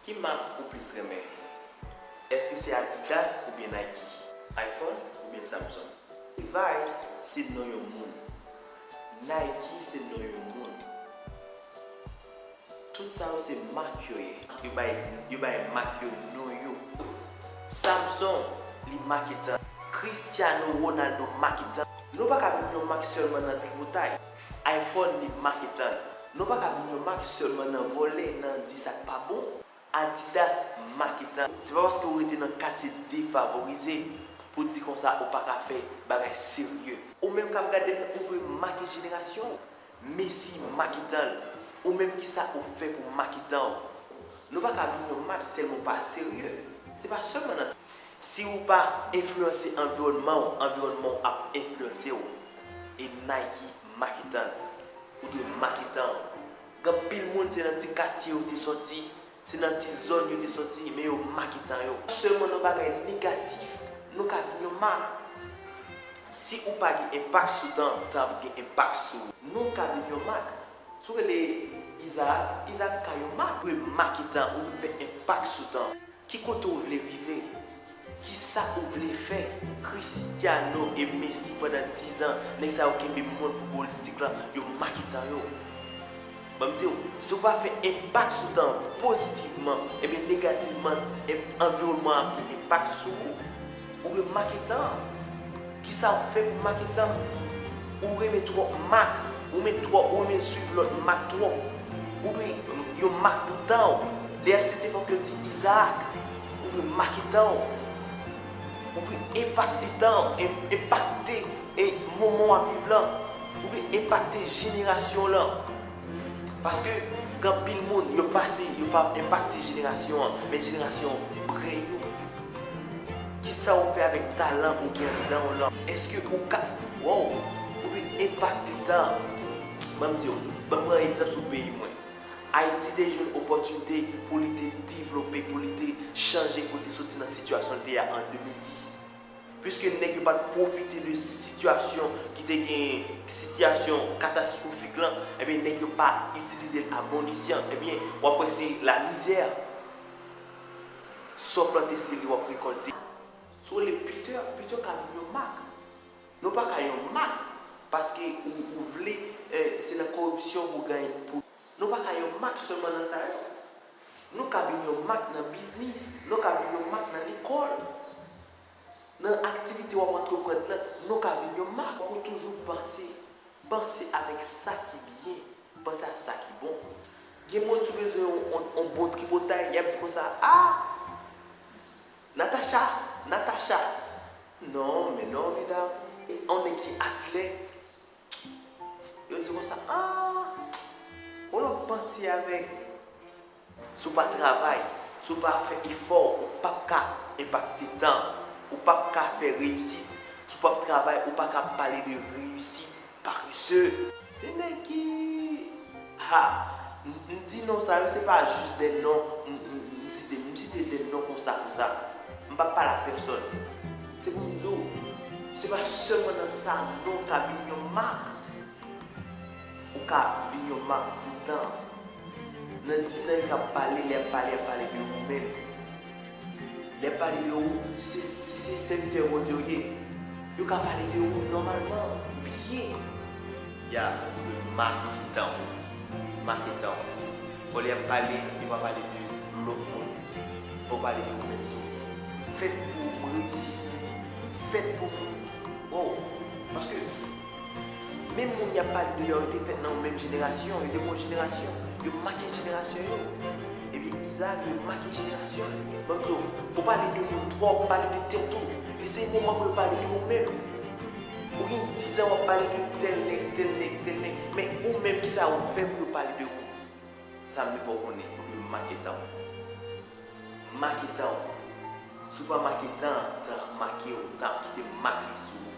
Ki mak ou plis renmen? Eske se Adidas oubyen Nike? Iphone oubyen Samsung? Levi's se non yon moun. Nike se non yon moun. Tout sa yo se mak yo ye. Yo bay yo bay mak yo non yo. Samsung, li make tan. Cristiano Ronaldo make tan. Nou pa ka vin yon mak sèlman nan tripotay. Iphone li mak etan. Nou paka vin yon mak selman nan vole nan di sak pa bon. Adidas mak etan. Se pa paske ou rete nan katye defavorize pou di konsa ou paka fè bagay serye. Ou menm kap gadem ou dwe make jenerasyon w. Messi mak etan l. Ou menm kisa ou fè pou mak etan w. Nou paka vin yon mak telman ou pa serye. Se pa selman nan sa. Si ou pa enfliyanse anviwònman ou, anviwònman ou ap enfliyanse ou. E Nike maketan l. Ou dwe maketan ou. Gen anpil moun se nan ti katye yo te sòti, se nan ti zòn yo te sòti, men yo maketan yo. Pa sèlman nan bagay negatif, nou ka vin yon mak. Si ou pa gen enpak sou tan, tan ap gen enpak sou ou. Nou ka vin yon mak. Si ou rele Izaak, Izaak ka yon mak. Ou dwe maketan, ou dwe fè enpak sou tan. Ki kote ou vle rive? Kisa ou vle fè? Cristiano e Messi pandan 10 ans nèg sa yo kenbe mond footballistique lan yo make tan yo. Banm diw, si ou pa fè enpak sou tan an positivman, ebyen negativman environman an ap gen enpak sou ou. Ou dwe make tan. Kisa ou fè pou make tan? Ou renmen twòp mak. Ou met twòp, ou renmen swiv lòt mak twòp. Ou dwe yon mak pou tan ou. Lè y ap site fòk yo di Izaak. Ou dwe make tan ou. Ou dwe enpakte tan ou, enpakte moman w ap viv lan. Ou dwe enpakte jenerasyon w lan. Paske gen anpil moun yo pase yo pa enpakte jenerasyon an men jenerasyon apre yo. Kisa ou fè avèk talan ou gen anndan w lan? Eske ou ka woww ou vin enpakte tan Ban m di w, ban m pran egzanp sou peyi mwen. Ayiti te jwenn opòtinite pou li te devlope, pou li te chanje, pou li te soti nan sitiyasyon l te a an 2010. Piske nèg yo pa t pwofite de sitiyasyon ki te genyen, sitiyasyon katastwofik lan, enben nèg yo pa itilize l a bon esyan, enben w ap wè se lamizè. Sa w plante se li w ap rekòlte. Si w rele Peter, Peter ka vin yon mak. Men w pa ka yon mak paske ou vle se nan koripsyon pou w gaye. Nou pa ka yon mak sèlman nan sa yo. Nou ka vin yon mak nan biznis, nou ka vin yon mak nan lekòl, nan aktivite w ap antreprann nan, nou ka vin yon mak. Fòk ou toujou panse, panse avèk sa ki byen, panse ak sa ki bon. Gen moun si w bezwen yon bon tripotay, y ap di konsa, a! Natacha! Natacha! Non, men non medam. On nèg ki aslè. Yo di konsa aah Ou lòt panse avèk Si w pa travay, si w pa fè efò ou pap ka enpakte tan, ou pap ka fè reyisit, si w pap travay ou pa ka pale de reyisit, paresseux. Se nèg ki. Ha! M di non sa yo se pa jis de non m site. M site de non konsa konsa. M pa pale ak pèsòn. Se pou m di w, se pa sèlman nan sa non ka vin yon mak. Ou ka vin yon mak pou tan. Nan dizan yo ka pale, lè y ap pale, y ap pale de ou menm. Lè yo pale de ou, si se sèvitè Bondye ou ye, yo ka pale de ou nòmalman, byen. Ya, ou dwe make tan ou. Make tan ou. Fò lè y ap pale, yo pa pale de lòt moun. Fò yo pale de ou menm tou. M fèt pou ou, m reyisi pou ou, m fèt pou moun. Woww! Paske. Menm moun y ap pale de yo a, yo te fèt nan yon menm jenerasyon, yo te gen yon jenerasyon, yo make jenerasyon yo. Ebyen, Izaak dwe make jenerasyon l. Ban m di w, ou pale de moun twòp, pale de tèt ou. Li se moman pou yo pale de ou menm. Ou gen dizan w ap pale de tèl nèg, tèl nèg, tèl nèg, men ou menm ki sa ou fè pou yo pale de ou? Sa m vle fè w konnen, ou dwe make tan w. Make tan w. Si w pa make tan an, tan ap make w, tan ap kite mak li sou ou.